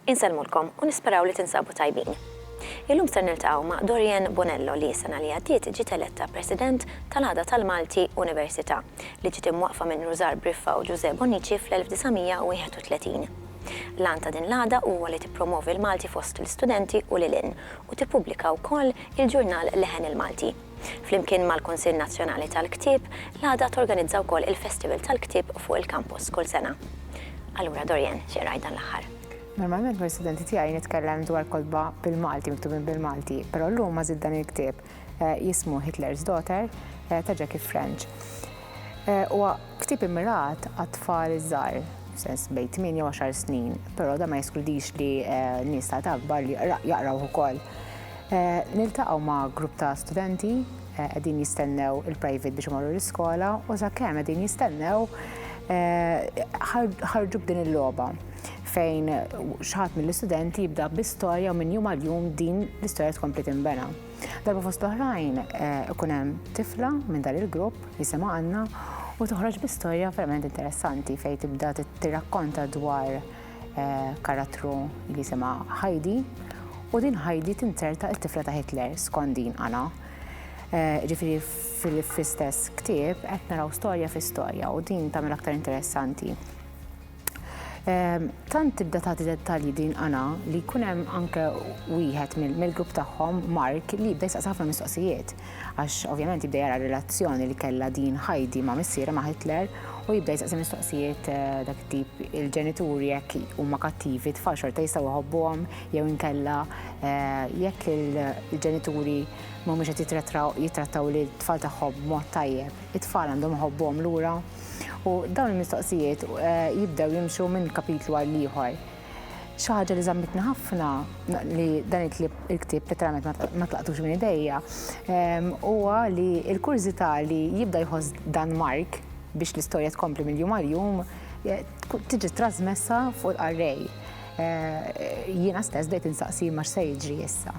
Insellmulkom u nisperaw li tinsabu tajbin. Illum ser niltaqgħu ma' Dorian Bonello li s-sena li għaddiet ġiet eletta President tal-Għada tal-Malti Università li ġiet imwaqqfa minn Rużar Briffa u Ġużè Bonnici fl-1931. L-għan ta' din l-għada huwa li tippromovi l-Malti fost l-istudenti u lil hinn u tippubblika wkoll il-ġurnal Leħen il-Malti. Flimkien mal-Kunsill Nazzjonali tal-Ktieb, l-għada torganizza wkoll il-Festival tal-Ktieb fuq il-kampus kull sena. Allura Dorian, xi qrajt dan l-aħħar? Normalment mal-istudenti tiegħi nitkellem dwar kotba bil-Malti, miktubin bil-Malti, però llum għażilt dan il-ktieb. eh, jismu Hitler's Daughter eh, ta' Jackie French. Eh, u ktib immirat għat-tfal iż-żgħar, sens bejn 8 u 10 snin, però da ma jeskludix li nies ta' akbar li jaqraw ukoll. Niltaqgħu ma' grupp ta' studenti qegħdin jistennew il-private biex imorru l-iskola u sakemm qegħdin jistennew ħarġu b'din il-logħba. fejn xħat mill-istudenti jibda bi storja u minn jum għal jum din l-istorja tkompli timbena. Darba fost l-oħrajn eh, ikun hemm tifla minn dan il-grupp jisimha għandna u toħroġ bi storja verament interessanti fejn tibda tirrakkonta dwar eh, karattru li jisimha Heidi u din Heidi tinzerta il-tifla ta' Hitler skondin għana. Eh, ġifiri fil-istess ktib qed naraw storja fi storja u din tagħmel aktar interessanti. Tant tibda tagħti dettalji din Ana li jkun hemm anke wieħed mill-grupp tagħhom Mark li jibda jistaqsi ħafna mistoqsijiet għax ovvjament jibda jara relazzjoni li kellha din Heidi ma' missiera ma' Hitler u jibda jistaqsi mistoqsijiet eh, dak tip il-ġenituri jekk huma kattivi tfal xorta jistgħu jħobbuhom jew inkella eh, jekk il-ġenituri mhumiex qed jitrattaw li tfal tagħhom mod tajjeb, it-tfal għandhom iħobbuhom lura. U dawn il-mistoqsijiet jibdew jimxu minn kapitlu għal ieħor. Xi ħaġa li żammitni ħafna li dan il-ktieb letteralment ma tlaqtux minn idejja huwa li l-kurżità li jibda jħoss dan Mark biex l-istorja tkompli mill-jum għal jum tiġi trasmessa fuq il-qarrej. Jiena stess bdejt insaqsi ma x'se jiġri issa.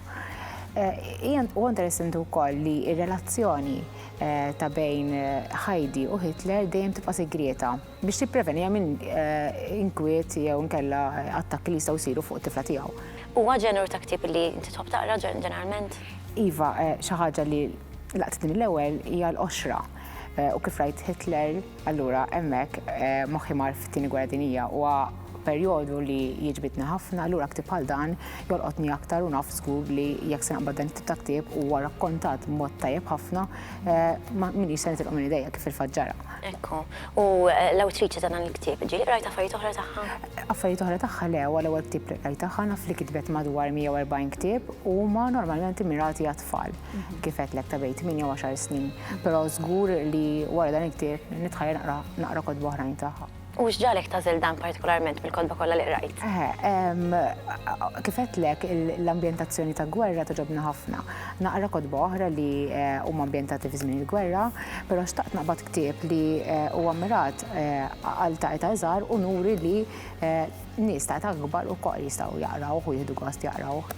Huwa interessanti wkoll li r-relazzjoni eh, ta' bejn eh, Heidi u Hitler dejjem tibqa' segrieta biex tipprevenija minn eh, inkwiet jew nkella attakki li jistgħu jsiru fuq tifla tiegħu. Huwa ġenur ta' ktieb li inti tħobb taqra ġeneralment? Iva, xi ħaġa li laqtitni l-ewwel hija l-qoxra u kif rajt Hitler Allura hemmhekk moħħi mar fit-Tieni Gwerra Dinjija. Huwa perjodu li jiġbidni ħafna, allura ktieb bħal dan jolqotni aktar u naf żgur li jekk se naqbad dan it-tip ta' ktieb huwa rakkontat b'mod tajjeb ħafna m'iniex se nitilqu minn idejja kif fil-fatt ġara. Ekku. U l-awtriċi ta' dan il-ktieb, ġieli qrajt affarijiet oħra tagħha? Affarijiet oħra tagħha le, huwa l-ewwel ktieb li qrajt tagħha, naf li kitbet madwar 140 ktieb u huma normalment immirati għat-tfal. kif għedlek ta' bejt 8 u 10 snin, pero zgur li wara dan il-ktieb nitħajja naqra naqra kodba oħrajn tagħha. U x'ġalek tażel dan partikolarment mill-kodba kollha li qrajt? Kif għedlek l-ambjentazzjoni ta' gwerra toġobni ħafna. Naqra kodba oħra li eh, huma ambjentati fi żmien il-gwerra, però xtaqt naqbad ktieb li eh, huwa mirat eh, għal ta' eta' żgħar u nuri li nies ta' eta' akbar ukoll jistgħu jaqrawh u jieħdu gost jaqrawh.